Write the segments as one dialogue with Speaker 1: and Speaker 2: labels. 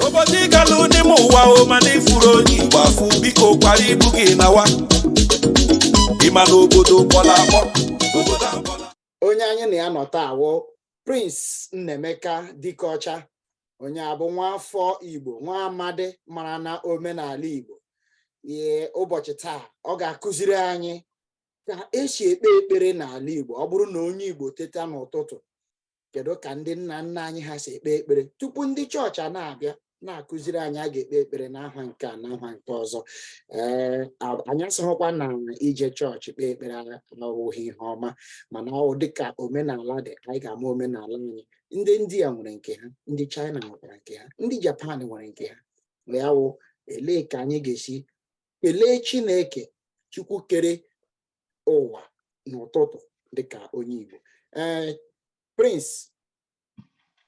Speaker 1: obodo ị galụ n'ime ụwa o mana ịfụrọ onye igbo afụ biko kwara ibu gị nawa ịma na obodo kpọrọ akpọ
Speaker 2: onye anyị na ya nọ taa wụ prince nnaemeka dikeọcha onye a bụ nwa afọ igbo nwa amadi mara na omenala igbo ee ụbọchị taa ọ ga-akụziri anyị ka esi ekpe ekpere n'ala igbo ọ bụrụ na onye igbo teta n'ụtụtụ kedu ka ndị nna nna anyị ha si ekpe ekpere tupu ndị chọọchị a na-abịa na-akụziri anyị a ga-ekpe ekpere n'aha nke a n'aha nke ọzọ ee anyị asịghịkwa na ije chọọchị kpee ekpere awụghị ihe ọma mana ọ dịka omenala dị anyị ga-ama omenala anyị ndị india nwere nke ha ndị china nwere nke ha ndị japan nwere nke ha ya wụ elee ka anyị ga-esi kelee chineke chukwu kere ụwa n'ụtụtụ dịka onye Igbo ee eh, Prince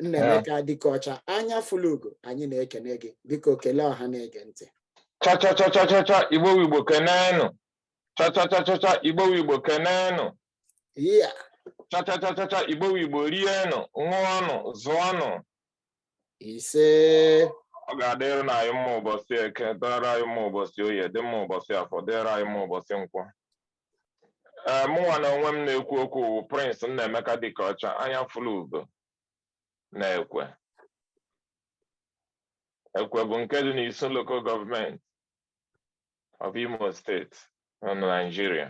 Speaker 2: Nnaemeka Dikeọcha anya fụlụ ugo anyị na-ekene gị biko kelee ọha na-ege ntị
Speaker 3: chachachachachcha Igbo wụ Igbo kenenụ chachachachcha Igbo wụ Igbo
Speaker 2: kenenụ chachachachcha
Speaker 3: Igbo wụ Igbo rienụ ṅụọnụ zụọnụ
Speaker 2: ise ọ ga-adịrị na
Speaker 3: anyị mma ụbọsị eke dịrị anyị mma ụbọsị oye dị mma ụbọsị afọ dịrị anyị mma ụbọsị nkwọ ee mụnwa na onwe m na-ekwu okwu wụ Prince Nnaemeka Dikeọcha anya fụlụ ugo na Ekwe Ekwe bụ nke dị n'Isu lokal gọọmenti of Imo steeti na Naijiria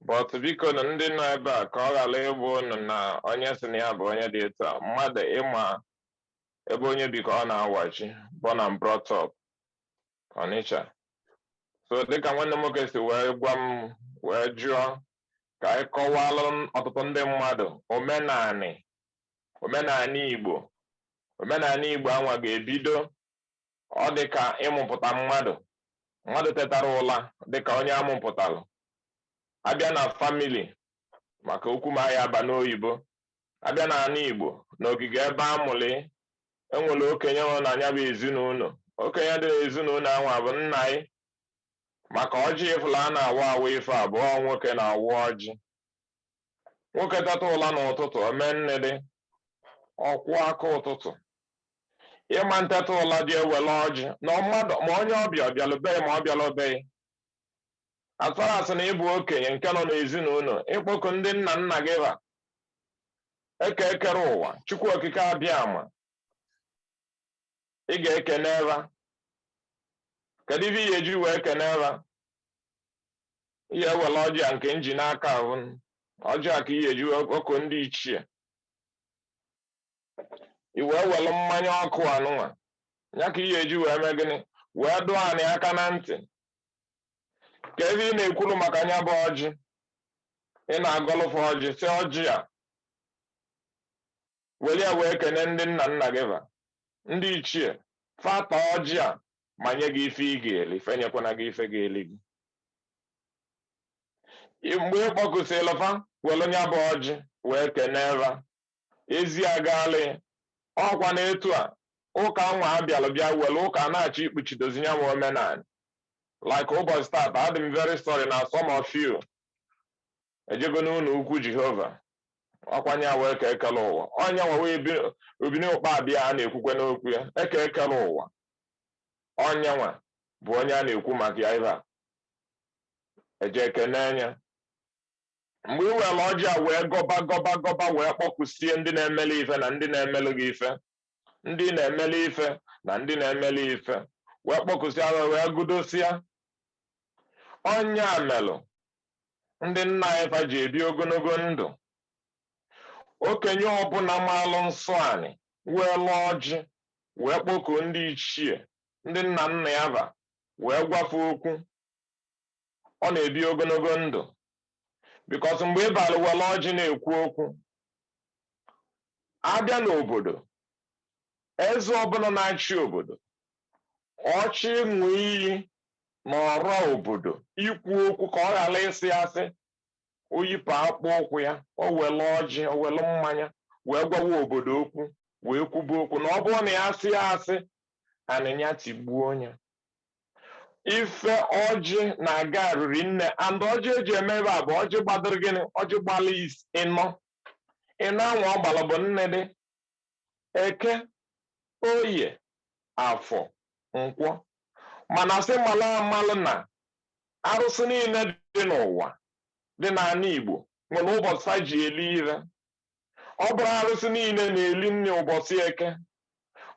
Speaker 3: but bikonụ ndị nọ ebe a ka ọ ghara ịbụ ụnụ na onye si na ya bụ onye dị etu a mmadụ ịma ebe onye bi ka ọ na-awachi born and brought up Onitsha so dịka nwanne m nwoke si wee gwa m wee jụọ ka anyị kọwalụ ọtụtụ ndị mmadụ omenanị omenanị Igbo omenanị Igbo anwa ga-ebido ọ dị ka ịmụpụta mmadụ mmadụ tetara ụla dị ka onye amụpụtalụ abịa na famili maka okwu m aya aba n'oyibo abịa na ana igbo na ogige ebe a mụlụ ị enwere okenye nọ na nya bụ ezinụnọ okenye dị n'ezinụnọ anwa bụ nna anyị maka ọjị ị fụlụ a na-awa awa ife abụọ nwoke na-awa ọjị nwoke teta ụla n'ụtụtụ o mee nne dị ọkwọ aka ụtụtụ ịma nteta ụla gị ewele ọjị na mmadụ ma onye ọbịa ọ bịalụ be gị ma ọ bịalụ be gị atara asị na ị bụ okenye nke nọ n'ezinụnọ ịkpọku ndị nna nna gị ba eke kere ụwa chukwu okike abịama ị ga-ekene ha kedu ife ị ya-eji wee kene ha ị ya-ewere ọjị a nke m ji n'aka ahụ ọjị a ka ị ya-eji wee kpọkuo ndị ichie i wee were mmanya ọkụ anụnwa ya ka ị ya-eji wee mee gịnị wee dụọ anị aka na ntị ka ebe ị na-ekwuru maka nya bụ ọjị ị na-agọlụ fa ọjị sị ọjị a were ya wee kene ndị nna nna gị va ndị ichie fa taa ọjị a ma nye gị ife ị ga-eli fa enyekwana gị ife ga-eli gị mgbe ị kpọkusịrị fa were nya bụ ọjị wee kene va ezi agalị ọkwa na etu a ụka anwa bịalụ bịa were ụka na-achọ ikpuchidozi ya ma omenala like ụbọchị tata adị m very sorry na some of you ejego n'ụlọ ukwu jehova ọkwa nya wụ eke kele ụwa onye nwa wụ obini ụkpabi a a na-ekwukwe n'okwu ya eke kele ụwa onye nwa bụ onye a na-ekwu maka ya ibe a eje ekene nya mgbe ị were ọjị a wee gọba gọba gọba wee kpọkusie ndị na-emeli ife na ndị na-emelụ gị ife ndị na-emeli ife na ndị na-emeli ife wee kpọkusịa ha wee gụdosịa ọ nya melụ ndị nna anyị fa ji ebi ogologo ndụ okenye ọbụla maalụ nsọ anị welụ ọjị wee kpọkuo ndị ichie ndị nna nna ya va wee gwa fa okwu ọ na-ebi ogologo ndụ because mgbe ị bịalụ were ọjị na-ekwu okwu a bịa n'obodo eze ọbụla na-achị obodo ọ chọọ ịṅụ iyi na ọra obodo ikwu okwu ka ọ ghara ịsị asị o yipụ akpụ ụkwụ ya o were ọjị o were mmanya wee gwawa obodo okwu wee kwuba okwu na ọ bụrụ na ya asịa asị anị nya tigbuo nya ife ọjị na-aga arịrị nne and ọjị eji eme ebe a bụ ọjị gbadịrị gịnị ọjị gbalụ ịnọ ịnọ anwa ọ gbara bụ nne dị eke oye afọ nkwọ mana sị mala amalụ na arụsị niile dị n'ụwa dị n'ala igbo nwere ụbọchị ha ji eli ife ọ bụrọ arụsị niile na-eli nri ụbọchị eke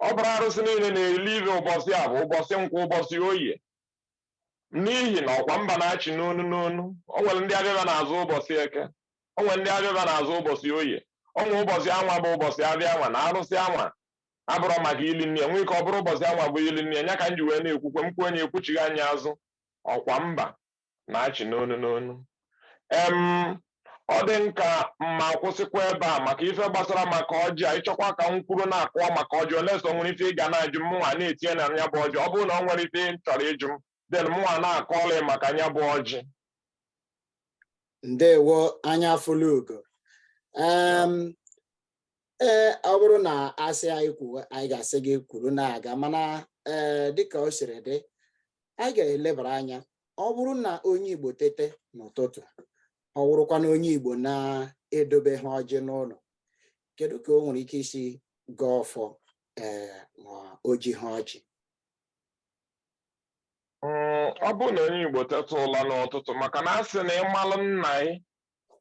Speaker 3: ọ bụrọ arụsị niile na-eli ife ụbọchị afọ ụbọchị nkwọ ụbọchị oye n'ihi na ọkwa mba na-achị n'onu n'onu o nwere ndị afịa va na-azụ ụbọchị eke o nwere ndị afịa va na-azụ ụbọchị oye o nwere ụbọchị anwa bụ ụbọchị afịa anwa na arụsị anwa abụrụ maka ili nri nwee ike ọ bụrụ ụbọchị anwa bụ ili nri nya ka m ji wee na-ekwukwe m kwuo onye ekwuchighị anya azụ ọkwa mba na-achị n'onu n'onu em ọ dị m ka m ma-akwụsịkwa ebe a maka ife gbasara maka ọjị anyị chọkwa ka m kwuru na-akọ maka ọjị unless o nwere ife ị ga na-ajụ m mụnwa na-etinye na nya bụ ọjị ọ bụrụ na o nwere ife ị chọrọ ịjụ m then mụnwa na-akọọla maka nya bụ
Speaker 2: ọjị ndewo anya fụlụ ugo ee ọ bụrụ na a sị anyị kwuo anyị ga-asị gị kwuru na-aga mana ee dịka o siri dị anyị ga-elebara anya ọ bụrụ na onye Igbo tete n'ụtụtụ ọ bụrụkwa na onye Igbo na-edobeha ọjị n'ụlọ kedu ka o nwere ike isi gọọ ọfọ ee ma o jiha ọjị
Speaker 3: Mm, ọ bụrụ na onye Igbo teta ụla n'ụtụtụ maka na a sị na ị malụ nna ị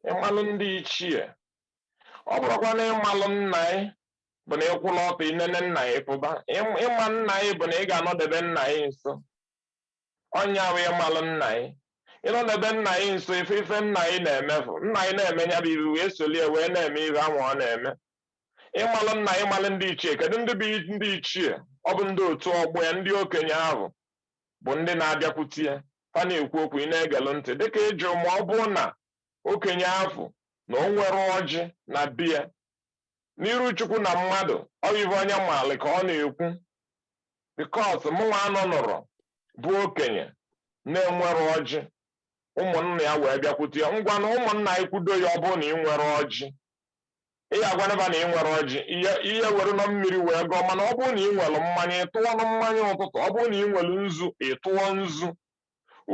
Speaker 3: ị malụ ndị ichie ọ bụrọkwanụ ịmalụ nna ị bụ na ị kwụlụ ọtọ i nene nna ị pụba Ịm- ịma nna ị bụ na ị ga-anọdebe nna ị nso ọ nya bụ ịmalụ nna ị ịnọdebe nna ị nso ife ife nna ị na-eme ị fụ nna ị na-eme nya bụ i wee solie wee na-eme ife ahụ ọ na-eme ịmalụ nna ị malụ ndị ichie kedu ndị bụ ndị ichie ọ bụ ndị otu ọgbọ ya ndị okenye ahụ bụ ndị na-abịakwute ya fa na-ekwu okwu ị na-egelụ ntị dịka ị jụ ma ọ bụrụ na okenye afụ na o nwerọ ọjị na be ya n'iru chukwu na mmadụ ọ bụ ife onye maalị ka ọ na-ekwu because mụnwa anụnụrọ bụ okenye na-enwerọ ọjị ụmụnna ya wee bịakwute ya ngwanụ ụmụnna anyị kwudo ya ọ bụrụ na i nwerọ ọjị ị ya-agwanụ fa na i nwerọ ọjị ị ya-ewerenụ mmiri wee gọọ mana ọ bụrụ na i nwere mmanya ị tụọnụ mmanya ụtụtụ ọ bụrụ na i nwere nzu ị tụọ nzu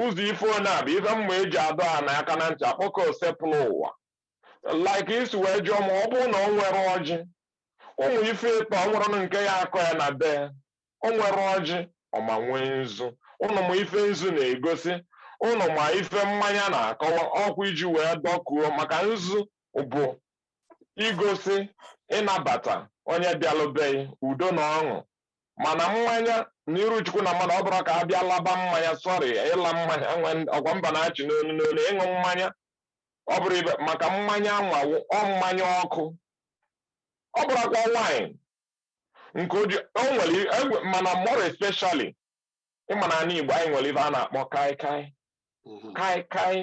Speaker 3: Ụzọ ife one a bụ ife m ma e ji adọ ana aka na ntị akpọku Osebụlụwa. Like i si wee jụọ ma ọ bụrụ na o nwerọ ọjị, ụmụ ife ịtọ o nwerọnụ nke ya-akọ ya na be, o nwerọ ọjị, ọ ma nwee nzu. Ụnụ ma ife nzu na-egosi, ụnụ ma ife mmanya na-akọwa, ọkwa iji wee dọkuo maka nzu bụ igosi ịnabata onye bịalụ be gị, udo na ọṅụ mana mmanya n'iru chukwu na mmadụ ọ bụrọ ka a bịa laba mmanya sorry ịla mmanya ọkwa mba na-achị n'onu n'onu ịṅụ mmanya ọ bụrụ ibe maka mmanya anwa ọ mmanya ọkụ ọ bụrọkwa wine nke oji o nwere egwe mana more especially ị ma na anị Igbo anyị nwere ife a na-akpọ kai kai mhm. kai kai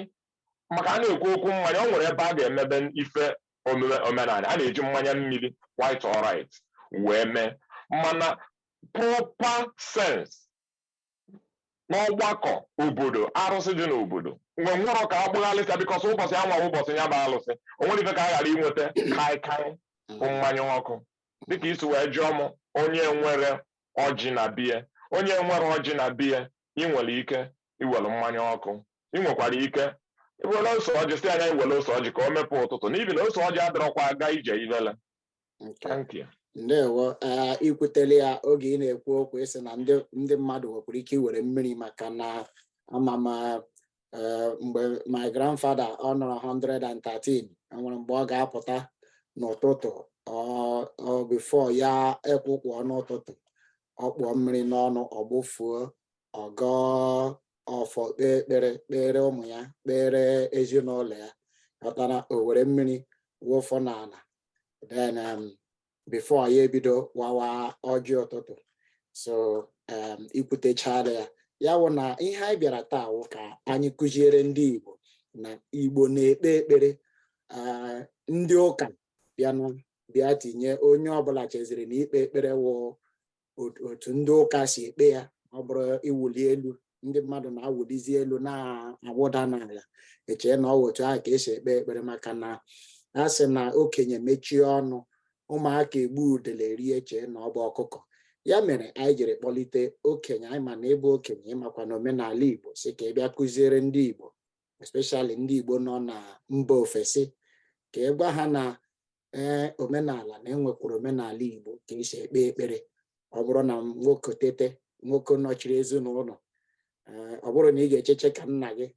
Speaker 3: maka a na-ekwu okwu mmanya o nwere ebe a ga-emebe ife omenala a na-eji mmanya mmiri quite alright wee mee mana proper sense n'ọgbakọ obodo arụsị dị n'obodo o nwerọ ka a gbagharịsịa because ụbọchị anwa ụbọchị ya bụ alụsị o nwerọ ife ka a ghara inweta kaikai bụ mmanya ọkụ dịka i si wee jụọ m onye nwere ọjị na bie onye nwere ọjị na bie ị nwere ike iwere mmanya ọkụ ị nwekwara ike iwere ose ọjị si anya iwere ose ọjị ka o mepee ụtụtụ n'ihi na ose ọjị adịrọkwa aga ije ivele thank you
Speaker 2: ndewo ikwutere ya oge ị na-ekwu okwu ịsị na ndị mmadụ nwekwuru ike iwere mmiri maka na ama m eh, mgbe my grandfather ọ nọrọ 113 enwere mgbe ọ ga-apụta n'ụtụtụ before ya ekwuo okwu n'ụtụtụ ọ kpụọ mmiri n'ọnụ ọ gbụfuo ọ gọọ ọfọ kpee ekpere kpere ụmụ ya kpere ezinụlọ ya pụtara o were mmiri wụfuo n'ala then um, before ya ebido wawa ọjị ụtụtụ so um, ikwutechala ya ya wụ na ihe anyị bịara taa wụ ka anyị kụziere ndị Igbo na Igbo na-ekpe ekpere uh, ndị ụka bịanụ bịa tinye onye ọbụla cheziri na ikpe ekpere wụ otu ndị ụka si ekpe ya ọ bụrụ ịwụli elu ndị mmadụ na-awụlizi elu na-awụda n'ala echee na ọ wụ otu ahụ ka esi ekpe ekpere maka na a sị na okenye mechie ọnụ ụmụaka egbu udele rie chee na ọ bụ ọkụkọ ya mere anyị jiri kpọlite okenye anyị ma na ịbụ okenye ịmakwa na omenala igbo sị ka ị bịa kụziere ndị igbo especially ndị Igbo nọ na mba ofesi ka ị gwa ha na ee eh, omenala na enwekwuru omenala Igbo ka esi ekpe ekpere ọ bụrụ na nwoke tete nwoke nọchiri ezinụlọ eh, ọ bụrụ na ị ga-echeche ka nna gị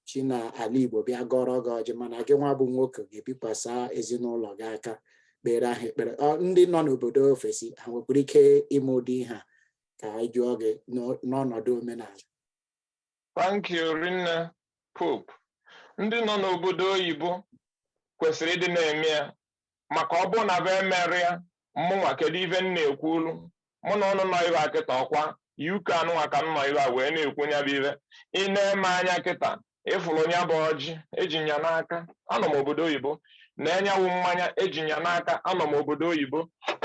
Speaker 2: chi na ala Igbo bịa gọrọ gị ọjị mana gị nwa bụ nwoke ga-ebikwasa ezinụlọ gị aka kpere ha ekpere ndị nọ n'obodo ofesi ha nwekwuru ike ime ụdị ihe a ka anyị jụọ gị n'ọnọdụ omenala
Speaker 3: Thank you rinne Pope. Ndị nọ n'obodo oyibo kwesịrị ịdị na-eme ya maka ọ bụrụ na be emere ya mụnwa kedu ife m na-ekwu olu mụ na ụnụ nọ ibe a kịta ọkwa UK anụnwa ka m nọ ibe a wee na-ekwu nya bụ ife ị na-ene anya kịta ịfụrụ nya bụ ọjị eji nya n'aka anọ m obodo oyibo nee nya wụ mmanya eji nya n'aka anọ m obodo oyibo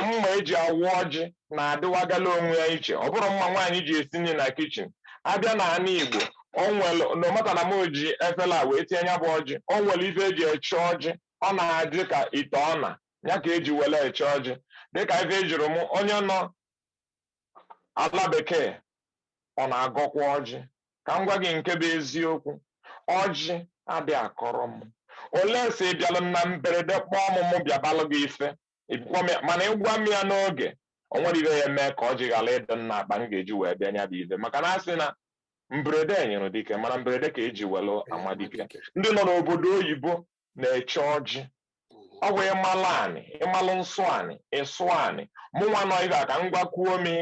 Speaker 3: mma eji awa ọjị na-adịwagala onwe ya iche ọ bụrọ mma nwaanyị ji esi nri na kitchen abịa na ana igbo o nwere no matter na m ji efele wee tinye nya bụ ọjị o nwere ife eji eche ọjị ọ na-adị ka ite ọna ya ka eji were eche ọjị dịka ife ị jụrụ m onye nọ ala bekee ọ na-agọkwa ọjị ka m gwa gị nke bụ eziokwu ọjị adị akọrọ m olee si bịalụ na mberede kpọọ m mụ bịabalụ gị ife ịgwa m ya mana ịgwa m ya n'oge o nwere ive ya eme ka ọjị ghara ịdị n'akpa m ga-eji wee bịa nya bụ ive maka na a sị na mberede nyịrị dike mana mberede ka eji welu ama dike ndị nọ n'obodo oyibo na-eche ọjị ọ bụ ịmalụ anị ịmalụ nsọ anị ịsọ anị mụ nwa nọ ebe a ka m gwakwuo gị.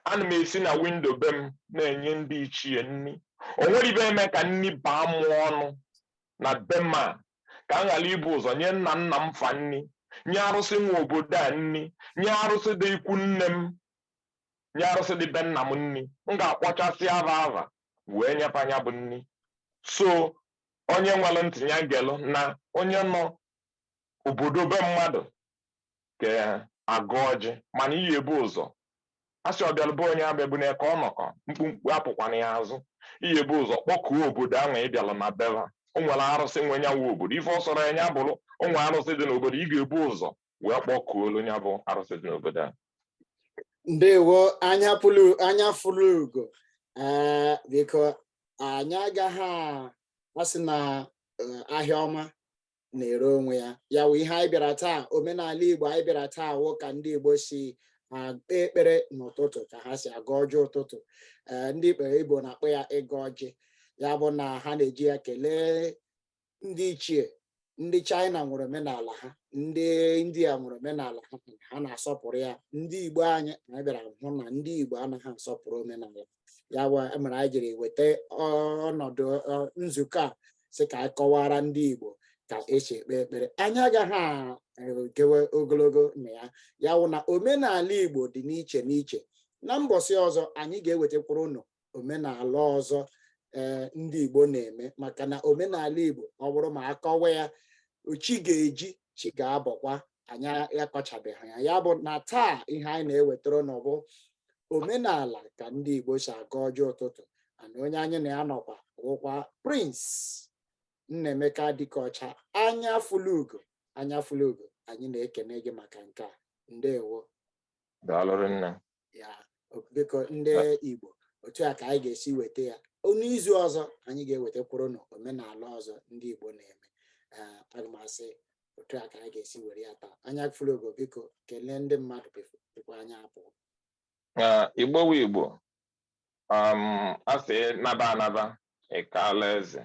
Speaker 3: ana m esi na windo be m na-enye ndị ichie nni o nwere ive eme ka nni baa mụ ọnụ na be m a ka m ghara ibu ụzọ nye nna nna m fa nni nye arụsị nwe obodo a nni nye arụsị dị ikwu nne m nye arụsị dị be nna m nni m ga-akpọchasị ava ava wee nye fa nya bụ nni so onye nwelụ ntị nya gelụ na onye nọ obodo be mmadụ ga-agọ ọjị mana ị ya-ebu ụzọ a sị ọbịalụ be onye abịagbuna ya ka ọ nakọ mkpumkpu apụkwana ya azụ ị ya-ebu ụzọ kpọkuo obodo ahụ ị bịalụ na be va o nwere arụsị nwe nya nwe obodo ife ọ sọrọ ya nya bụrụ o nwere arụsị dị n'obodo ị ga-ebu ụzọ wee kpọkuolu nya bụ arụsị dị n'obodo a
Speaker 2: ndewo anya fụlụ anya fụlụ ugo ee biko anyị agaghị a- asị na eh, ahịa ọma na-ere onwe ya ya wụ ihe anyị bịara taa omenala igbo anyị bịara taa wụ ka ndị igbo si ekpe ekpere n'ụtụtụ ka ha si agọ ọjị ụtụtụ eh, ndị ekpere igbo na-akpọ ya ịgọ ọjị ya bụ na ha na-eji ya kelee ndị ichie ndị china nwere omenala ha ndị india nwere omenala ha ha na-asọpụrụ ya ndị igbo anyị anyị bịara hụ na ndị igbo anaghị asọpụrụ omenala ha ya bụ mere anyị jiri weta ọnọdụ nzukọ a sị ka anyị kọwara ndị Igbo ka esi ekpe ekpere anyị agaghị egewe ogologo na ya ya wụ na omenala Igbo dị n'iche n'iche na mbọsị ọzọ anyị ga-ewetakwuru ụnụ omenala ọzọ ee eh, ndị Igbo na-eme maka na omenala Igbo ọ bụrụ ma a kọwa ya chi ga-eji chi ga-abọkwa anyị akọchabeghị ya ya bụ na taa ihe anyị na-ewetara ụnụ bụ omenala ka ndị Igbo si agọ ọjị ụtụtụ ana onye anyị na ya nọkwa wụkwa Prince Nnaemeka Dikeọcha anya fulugo anya fulugo anyị na-ekene gị maka nke a ndewo daalụ
Speaker 3: rinne
Speaker 2: ya biko ndị Igbo otu a ka anyị ga-esi weta ya n'izu ọzọ anyị ga-ewetakwuru ụnụ omenala ọzọ ndị Igbo na-eme eh, aga m asị otu a ka anyị ga-esi were ya taa anya fụlụ ugo biko kelee ndị mmadụ before kwa anyị apụọ
Speaker 3: eh, Igbo wu Igbo um, asị naba anaba ịkaala eze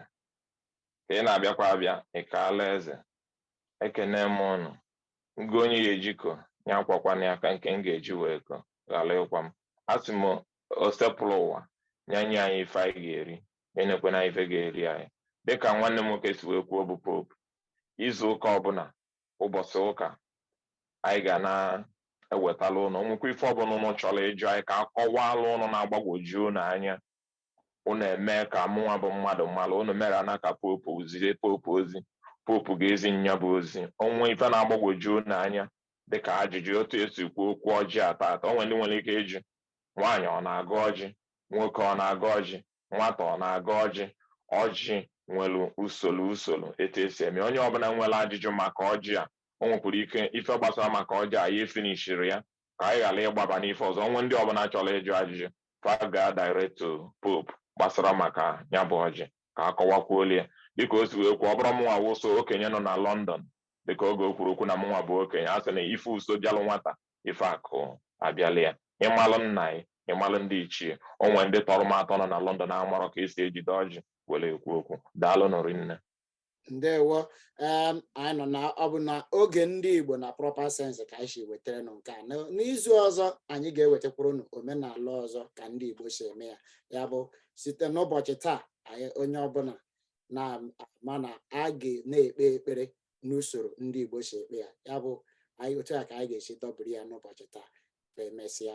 Speaker 3: ka ị na-abịakwa abịa ịkaala eze ekene m ụnụ ngụ onye ya eji ko ya akwakwana ya ka nke m ga-eji wee ko ghara ịkwa m asị m Osebụrụwa ya nye anyị ife anyị ga-eri enyekwana anyị ife ga-eri anyị dịka nwanne m nwoke si wee kwuo bụ Pope izu ụka ọbụla ụbọchị ụka anyị ga na-ewetala ụnụ nwekwa ife ọbụla ụnụ chọrọ ịjụ anyị ka a kọwaalụ ụnụ na-agbagwoju ụnụ anya unu emee ka mụnwa bụ mmadụ mara unu mere ana ka Pope zie Pope ozi Pope ga-ezi nya bụ ozi o nwee ife na-agbagwoju unu anya dịka ajụjụ otu esi kwuo okwu ọjị ata ata o nwe ndị nwere ike ịjụ nwaanyị ọ na-agọ ọjị nwoke ọ na-agọ ọjị nwata ọ na-agọ ọjị ọjị nwere usoro usoro etu esi eme onye ọbụla nwere ajụjụ maka ọjị a o nwekwara ike ife gbasara maka ọjị a ya efinishiri ya ka anyị ghara ịgbaba n'ife ọzọ o nwee ndị ọbụla chọrọ ịjụ ajụjụ fa gaa direct to Pope gbasara maka ya bụ ọjị ka a kọwakwuolu ya dịka o si wee kwuo ọ bụrọ mụnwa wụ sọ okenye nọ na London dịka oge o kwuru okwu na mụnwa bụ okenye a sị na ife uso bịalụ nwata ife akụ abịala ya ịmalụ nna anyị ịmalụ ndị ichie o nwe ndị tọrọ m atọ nọ na London amarọ ka esi ejide ọjị were ekwu okwu daalụ nụ rinne ndewo
Speaker 2: um, anyị nọ na ọ bụ na oge ndị Igbo na proper sense ka anyị si wetara nụ nke a n'izu ọzọ anyị ga-ewetakwuru nụ omenala ọzọ ka ndị Igbo si eme ya ya bụ site n'ụbọchị taa anyị onye ọbụla na-ama na a ga na-ekpe ekpere n'usoro ndị Igbo si ekpe ya ya bụ anyị otu a ka anyị ga-esi dọbiri ya n'ụbọchị taa ka emesịa